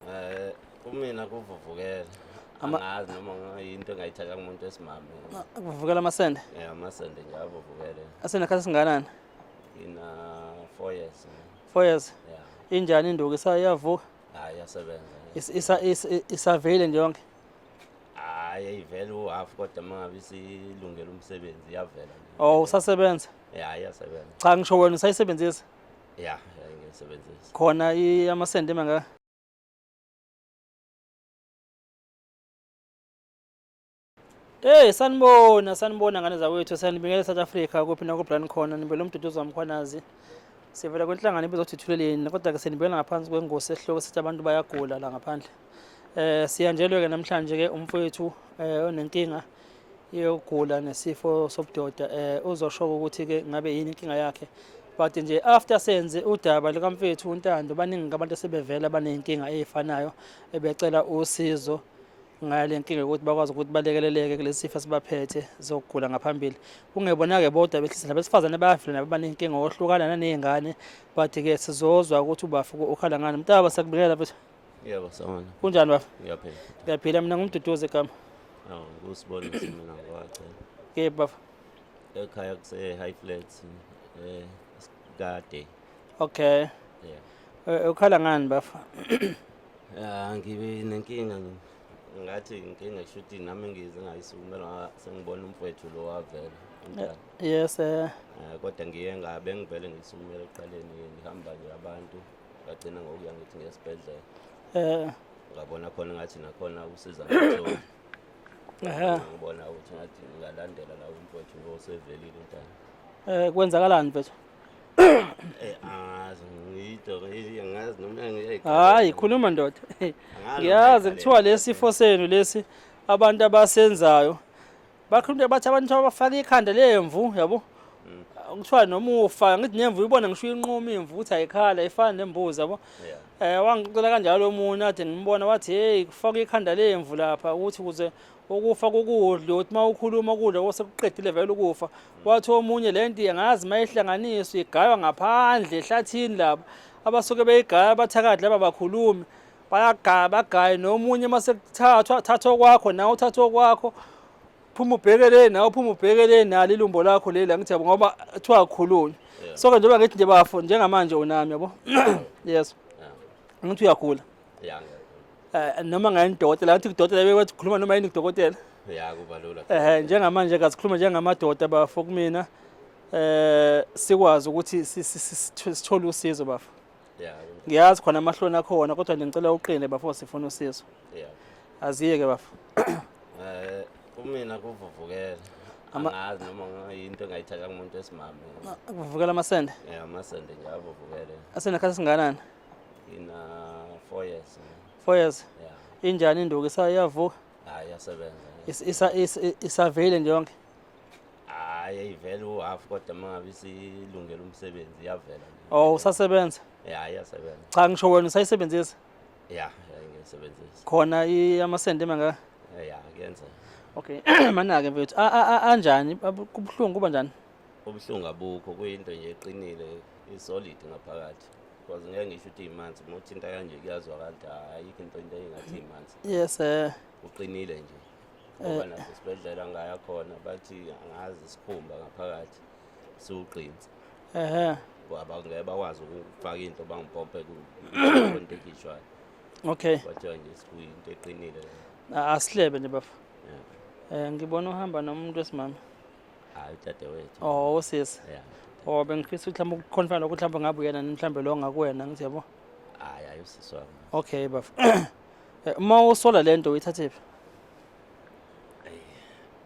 Eh kumina kuvuvukela. Angazi noma ngayinto engayithatha kumuntu esimame. Kuvuvukela amasende? Yeah, amasende nje avuvukele. Asena khathi singanani? Ina 4 years. 4 years. Yeah. Injani induku isayavuka? Hayi yasebenza. Isa isavele nje yonke. Hayi ayivele u half kodwa mangabe isilungela umsebenzi iyavela. Oh usasebenza? Yeah, iyasebenza. Cha ngisho wena usayisebenzisa? ya ngisebenzisa khona amasenti emangaka Hey sanibona sanibona ngane zakwethu sanibingelela South Africa kuphi na kubrand khona nibele umduduzo wamkhwanazi sivela kwenhlangano ebizothuthuleleni kodwa ke senibingelela ngaphansi kwengosi esihloko sithi abantu bayagula la ngaphandle Eh siyanjelwe ke namhlanje ke umfowethu eh onenkinga yokugula nesifo sobudoda eh uzosho ukuthi ke ngabe yini inkinga yakhe but nje after senze udaba likamfethu uNtando baningi abantu asebevela banenkinga ezifanayo ebecela usizo ngale nkinga ukuthi bakwazi ukuthi balekeleleke kulesi sifo sibaphethe zokugula ngaphambili kungebona-ke bodwa behlisa nabesifazane bayafila nabo banenkinga ohlukana naney'ngane but-ke sizozwa ukuthi ubafuko ukhala ngani mntaba sakubingelela futhi Yebo sawona. Kunjani bafo? Ngiyaphila. Ngiyaphila mina ngumduduzi egama. Awu kusibona mina ngwacha. Ke bafo. Ekhaya kuse high flats eh kade. Okay. Yeah. Eh, eh, ukhala ngani bafo? Ah ngibe nenkinga ngathi inkinga shuthi nami ngize ngayisukumela sengibona umfowethu lo wavela. Eh, yes eh. Kodwa ngiye ngabe ngivele ngisukumela eqaleni ngihamba nje abantu. ngagcina ngokuya ngithi ngesibhedlela eh ngabona khona ngathi nakhona usiza ngitholi ehe ngibona ukuthi ngathi ngalandela la umfowethu lo sevelile umntana eh kwenzakalani mfethu eh angazi ngiyito ngiyazi noma ngiyayikhala hayi khuluma ndoda ngiyazi kuthiwa lesifo senu lesi abantu abasenzayo bakhulumile bathi abantu abafaka ikhanda lemvu yabo kuthiwa noma ufa ngithi nemvu ibona ngisho inquma imvu ukuthi ayikhala ifana nembuzi yabo eh wangicela kanjalo omunye athi ngimbona wathi hey kufaka ikhanda lemvu lapha ukuthi kuze ukufa kokudla uthi uma ukhuluma ukudla osekuqedile vele ukufa wathi omunye le nto angazi uma ihlanganiswa igaywa ngaphandle ehlathini laba abasuke beyigaya abathakathi laba bakhulumi bayagaya bagaye nomunye uma sekuthathwa thathwa kwakho nawe uthathwa kwakho phuma ubheke le nawe phuma ubheke le nalo ilumbo lakho leli angithi yabo ngoba kuthiwa akhulunywe so ke njengoba ngithi nje bafo njengamanje unami yabo yes angithi uyagula eh, noma ngayini dokotela ngathi kudokotela bekwethu khuluma noma yini kudokotela ya kuba lula eh njengamanje kasikhuluma njengamadoda bafo kumina eh sikwazi ukuthi sithole usizo bafo ngiyazi khona amahloni akhona kodwa nje ngicela uqine bafo sifuna usizo aziye ke bafo eh kumina kuvuvukela angazi noma yinto engayithatha kumuntu esimame kuvuvukela amasende yeah amasende nje avuvukele asende khathi singanani ina 4 years 4 years yeah injani induku isayavuka hayi yasebenza isavele nje yonke hayi ayivele uhalf kodwa uma ngabe isilungele umsebenzi iyavela nje. Oh usasebenza? ya iyasebenza Cha ngisho wena usayisebenzisa ya ya ngiyisebenzisa khona i- amasende mangaka? ya kuyenza Okay manake mfethu a- a- a- anjani Abu- kubuhlungu kuba njani? ubuhlungu abukho kuyinto nje eqinile isolid ngaphakathi because ngeke ngisho ukuthi imanzi uma uthinta kanje kuyazwakala ukuthi ayikho into into engathi imanzi Yes eh uqinile nje ngoba nasesibhedlela ngaya khona bathi angazi isikhumba ngaphakathi siwugqinsi ehe abangeke bakwazi ukufaka into bangipompe kwento ekhishwayo okay kwathiwa nje sikuyinto eqinile asihlebe nje bafo um ngibona uhamba nomuntu wesimama hayi udadewethu oh usisi oh bengifisa ukuthi mhlawumbe ukukhonfana lokuthi mhlawumbe ngabe uyena mhlawumbe lo ngakuwena ngithi yabo hayi ayi usisi wami okay bafo Eh, uma usola lento uyithathephi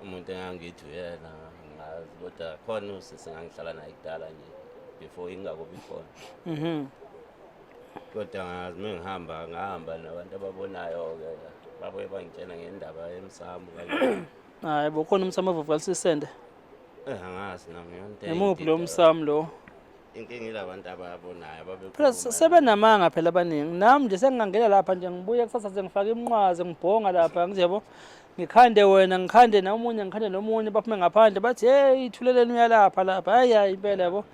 umuntu engangithi uyena ngazi kodwa khona usisi ngangihlala naye kudala nje before ingakubi khona mhm kodwa ngazi uma ngihamba ngahamba nabantu ababonayo-ke babuye bangitshena ngendaba yemsamo kanye hayi bo khona umsamo ovuvukalisisende eh angazi nami yonto imuphi lo msamo lo inkinga ilabantu ababonayo ababekhuluma sebenamanga phela abaningi nami nje sengingangena lapha nje ngibuye kusasa sengifaka iminqwazi ngibhonga lapha ngizebo ngikhande wena ngikhande nomunye ngikhande nomunye baphume ngaphandle bathi hey ithuleleni uyalapha lapha hayi hayi impela yabo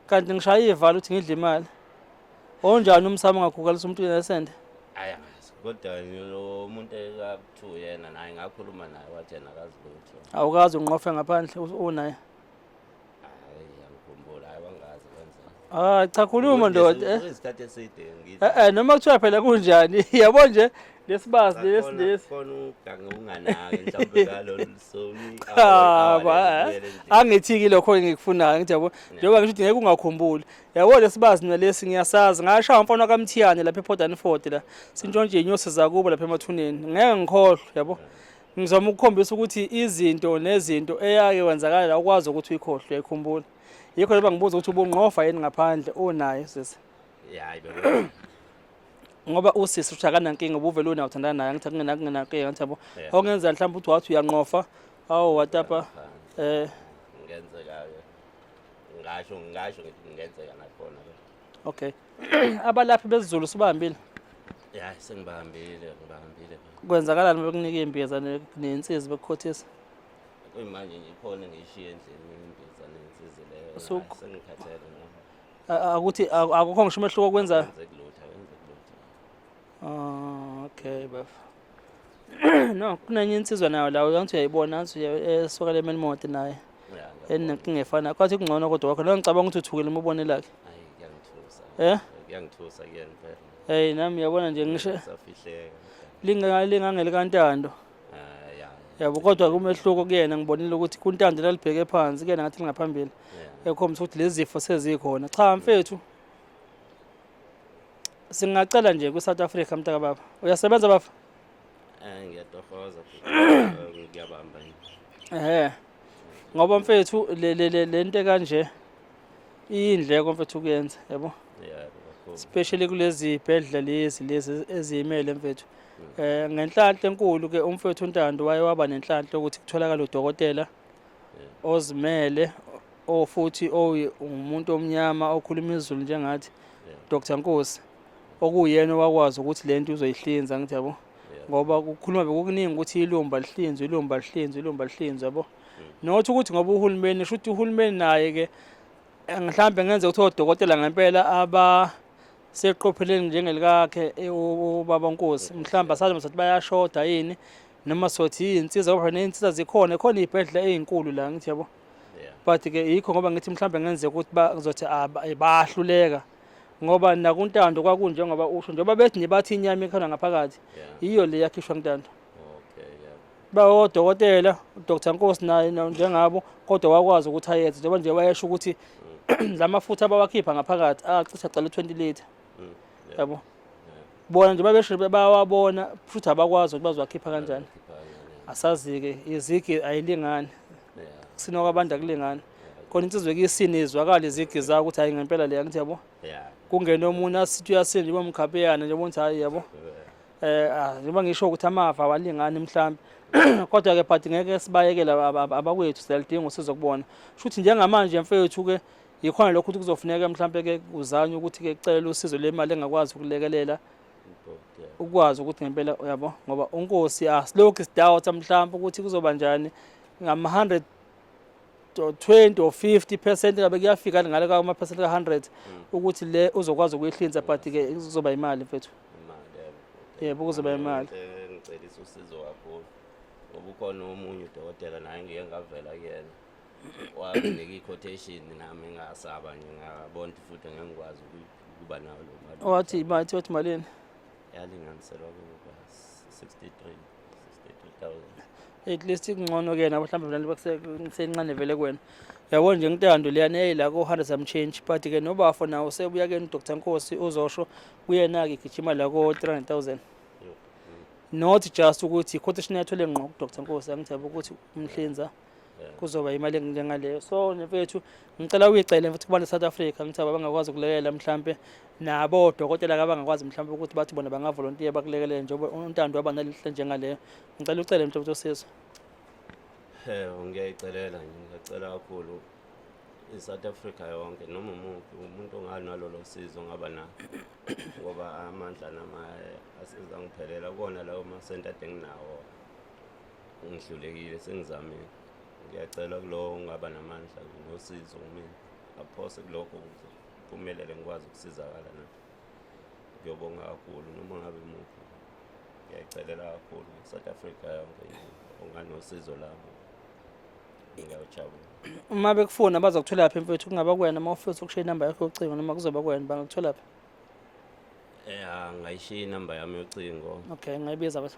kanti ngishaya ivalo ukuthi ngidle imali onjani umsamo ngakhukalisa umuntu nesende aya kodwa lo muntu ekuthiwa yena naye ngakhuluma naye wathi yena akazi lutho awukazi unqofe ngaphandle unaye Ah cha khuluma ndoda. Eh. Isikhathi eside ngithi. Eh, eh noma kuthiwa phela kunjani? Yabo nje lesibazi lesi lesi. Khona ugange unganaki mhlawumbe ngalolu soni. Cha ba. Eh. Angithiki lokho engikufunayo ngithi yabo. Njengoba ngisho ukuthi ngeke ungakhumbuli. Yabo lesibazi mina lesi ngiyasazi. Ngashaya umfana kaMthiyane lapha ePortland Ford la. Sintshontshe inyosi zakubo lapha emathuneni. Ngeke ngikhohlwe yabo. Ngizama ukukhombisa ukuthi izinto nezinto eyake wenzakala ukwazi ukuthi uyikhohlwe uyikhumbula. Yikho leba ngibuza ukuthi ubungqofa yini ngaphandle unayo sisi. Hayi bebe. Ngoba usisi ushakana nkinga ubuvele unayo uthandana naye ngithi kungena kungena ke ngathi yabo. Ongenza mhlawumbe uthi wathi uyanqofa. Awu watapa eh ngenzeka ke. Ngasho ngasho ngenzeka nakhona ke. Okay. Abalaphi bezulu sibambile. Yeah, sengibambile, ngibambile. Kwenzakalani bekunika imbiza nensizi bekukhothisa? Kuyimanje nje ikhona ngishiye endlini imbiza nensizi leyo. Sengikhathele ngoba. Akuthi akukho ngisho umehluko kwenza. Kwenza kulutha, kwenza kulutha. Ah, okay, bafo. no kunenye insizwa nayo la uyangithi uyayibona angithi esokala emeni mode naye enenkinga efana kwathi kungcono kodwa wakho lo ngicabanga ukuthi uthukile uma ubone lakhe eh kuyangithusa kuyena phela hey nami yabona nje ngisho safihleka lingangeli kantando yabo kodwa kumehluko kuyena ngibonile ukuthi kuntando lalibheke phansi kuyena ngathi lingaphambili ekhombisa ukuthi lezi zifo sezikhona cha mfethu singacela nje kwi-south africa mntaka baba uyasebenza baba Eh ngiyatohoza ngiyabamba yini. ehe ngoba mfethu le- le- le- le nto ekanje iyindleko mfethu kuyenza yabo Yeah, kakhulu. especially kulezi bhedla lezi lezi eziyimele mfethu um ngenhlanhla enkulu-ke umfethu untando waye waba nenhlanhla ukuthi kutholakale udokotela ozimele o futhi ongumuntu omnyama okhuluma izulu njengathi Dr Nkosi okuyena wakwazi ukuthi lento uzoyihlinza ngithi yabo ngoba kukhuluma bekukuningi ukuthi ilumba lihlinzwe ilumba lihlinzwe ilumba lihlinzwe yabo mm. nothi ukuthi ngoba uhulumeni shuthi uhulumeni naye ke mhlawumbe ngenze ukuthi odokotela ngempela aba seqopheleni njengelikakhe e, ubaba Nkosi mhlawumbe asazi ukuthi bayashoda yini noma sothi yinsiza ngoba neyinsiza zikhona khona iy'bhedlela ey'nkulu la ngithi yabo but ke yikho ngoba ngithi mhlawumbe ngenzeka ukuthi bazothi ah, eh, bayahluleka ngoba nakuntando kwakunjengoba usho njengoba bethi nibathi inyama ekhona ngaphakathi yiyo le yakhishwa kuntando bayodokotela uDr Nkosi naye njengabo kodwa wakwazi ukuthi ayenze njengoba nje wayesho ukuthi mm. la mafutha abawakhipha ngaphakathi acisha cala 20 liter mm. yabo bona nje babesho bayawabona futhi abakwazi ukuthi bazowakhipha kanjani asazike izigi ayilingani kusina kwabantu akulingani khona insizwe kuyisini izwakala izigi zayo ukuthi hayi ngempela leya ngithi yabo kungena omunye asithi uyasinda njengoba mkhapeyana njengoba ngithi hayi yabo eh ah, njengoba ngisho ukuthi amava awalingani mhlawumbe kodwa ke but ngeke sibayekele abakwethu siyalidinga usizo kubona shuthi njengamanje mfethu ke yikhona lokho ukuthi kuzofuneka mhlawumbe ke uzanye ukuthi ke cela usizo lemali engakwazi ukulekelela ukwazi ukuthi ngempela uyabo ngoba unkosi asilokhu sidoubt mhlawumbe ukuthi kuzoba njani ngama 100 to 20 or 50 percent ngabe kuyafika ngale ka percent ka 100 mm. ukuthi le uzokwazi ukuyihlinza but ke kuzoba imali mfethu yebo kuzoba imali ngicelisa usizo kakhulu ngoba ukhona omunye udokotela naye ngike ngavela kuyena wanginika i-quotation nami ngasaba nje ngabona futhi ngengikwazi ukuba nayo lo mali wathi wathi malini yalinganiselwa kuba 63 at least kungcono ke nabo mhlawumbe vele bakusencane vele kwena yabo nje ngintando leyana eyayila ko-hundred some change but ke nobafo nawo sebuya ke nodr nkosi uzosho kuyena-ke gijima la ko-three hundred thousand not just ukuthi quotation yathole ngqo kudr nkosi angithebe ukuthi umhlinza kuzoba imali enjengaleyo so mfethu ngicela uyicele futhi kubantu South Africa ngithi abangakwazi ukulekelela mhlambe nabo odokotela abangakwazi mhlambe ukuthi bathi bona bangavolontiya bakulekelele njengoba untando waba nalihle njengaleyo ngicela ucele mfethu usizo eh ngiyayicelela ngiyacela kakhulu i-South Africa yonke noma umuntu umuntu onganalolo sizo ngaba na ngoba amandla nama asizangiphelela kona lawo masenta denginawo ngihlulekile sengizamile ngiyacela kulowo ungaba namandla nosizo kumina aphose kulokho ukuze kuphumelele ngikwazi ukusizakala na ngiyobonga kakhulu noma ngabe muphi ngiyayicelela kakhulu south africa yonke onganosizo labo uma bekufuna bazokuthola phi mfethu kungaba kuwena uma ufisa ukushiya inamba yakho yocingo noma kuzoba kuwena bangakuthola phi ya ngayishiya inamba yami yocingo okay ngayibiza bese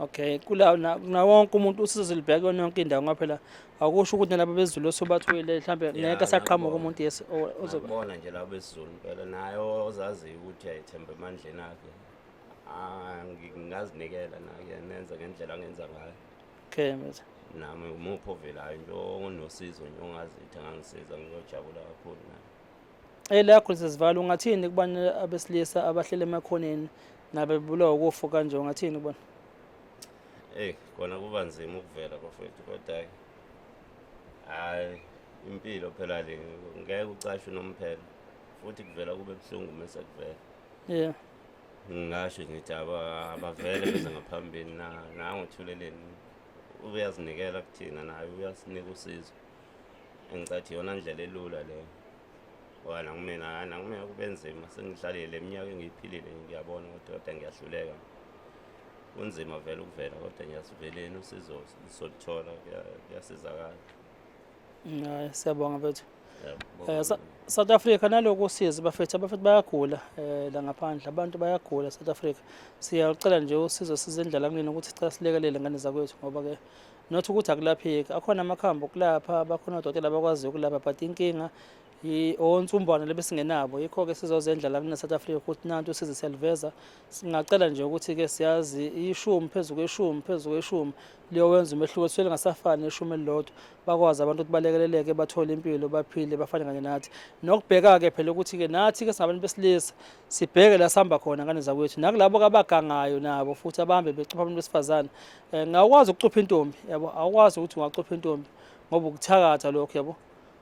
Okay, kula na wonke umuntu usizo libheke yonke indawo ngoba phela akusho ukuthi nalabo bezulu osobathwele mhlambe ngeke asaqhamuka umuntu yes ozoba. Bona nje labo bezulu phela naye ozaziyo ukuthi ayethemba emandleni akhe. Ah, ngingazinikela naye nenza ngendlela angenza ngayo. Okay, mfethu. nami umuphi ovelayo nje onosizo nje ongazithi angangisiza ngiyojabula kakhulu naye Elakho lisezivalo ungathini kubantu abesilisa abahlele emakhoneni nabebulawa ukufa kanje ungathini kubona? Hey, kona kuba nzima ukuvela bafethu kodwa hayi impilo phela le ngeke ucashe nomphela futhi kuvela kube buhlungu mase kuvela. Yeah. Ngingasho ngithi abavele beze ngaphambili na nangothuleleni uyazinikela kuthina naye uyasinika usizo. engicathi yona ndlela elula leyo ngoba nakumina hhayi nakumina kube nzima sengidlalile le minyaka engiyiphilile ngiyabona ukuthi kodwa ngiyahluleka kunzima vele ukuvela kodwa ngiyasiveleni usizo soluthola kuyasizakala hayi siyabonga bethu um south africa naloku usizi bafethu abafethu bayagula um la ngaphandle abantu bayagula south africa siyalucela nje usizo sizendlala kunini ukuthi sicela silekelele ngane zakwethu ngoba-ke not ukuthi akulapheki akhona amakhambi okulapha bakhona odokotela abakwaziyo ukulapha but inkinga onsumbwana lebesingenabo yikho-ke sizozendla la kune south africa ukuthi nanti usize siyaliveza singacela nje ukuthi-ke siyazi ishumi phezu kweshumi phezu kweshumi liyowenza umehluko sisuke lingasafani neshumi elilodwa bakwazi abantu ukuthi balekeleleke bathole impilo baphile bafane kanye nathi nokubheka-ke phela ukuthi-ke nathi-ke singabantu besilisa sibheke la sihamba khona ngane zakwethu nakulabo kabagangayo nabo futhi abahambe becupha abantu besifazane Eh, ngawukwazi ukucupha intombi yabo awukwazi ukuthi ungacupha intombi ngoba ukuthakatha lokho yabo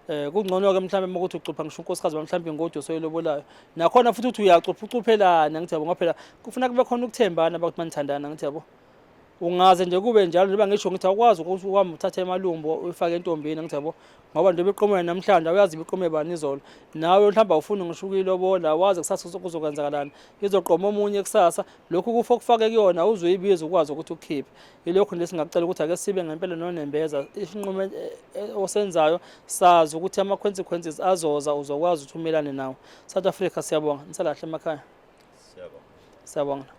eh kungcono-ke mhlawumbe uma ukuthi ucupha ngisho unkosikazi wami mhlawumbe ingoda osoyilobolayo nakhona futhi ukuthi uyacupha ucuphelana ngithi yabo ngoba phela kufuna kube khona ukuthembana bakuthi manithandana ngithi yabo ungaze nje kube njalo njengoba ngisho ngithi awukwazi ukuthi uhambe uthathe emalumbo uyifake entombini ngithi yabo ngoba njengoba iqomela namhlanje awuyazi ibiqome bani izolo nawe mhlawumbe awufuni ngisho ukuyilobola wazi kusasa kuzokwenzakalani izoqoma omunye kusasa lokhu kufa okufake kuyona uzoyibiza ukwazi ukuthi ukukhiphe yilokhu nje singacela ukuthi ake sibe ngempela nonembeza isinqumo eh, eh, osenzayo sazi ukuthi ama-consequences azoza uzokwazi ukuthi umelane nawo south africa siyabonga nisalahle emakhaya siyabonga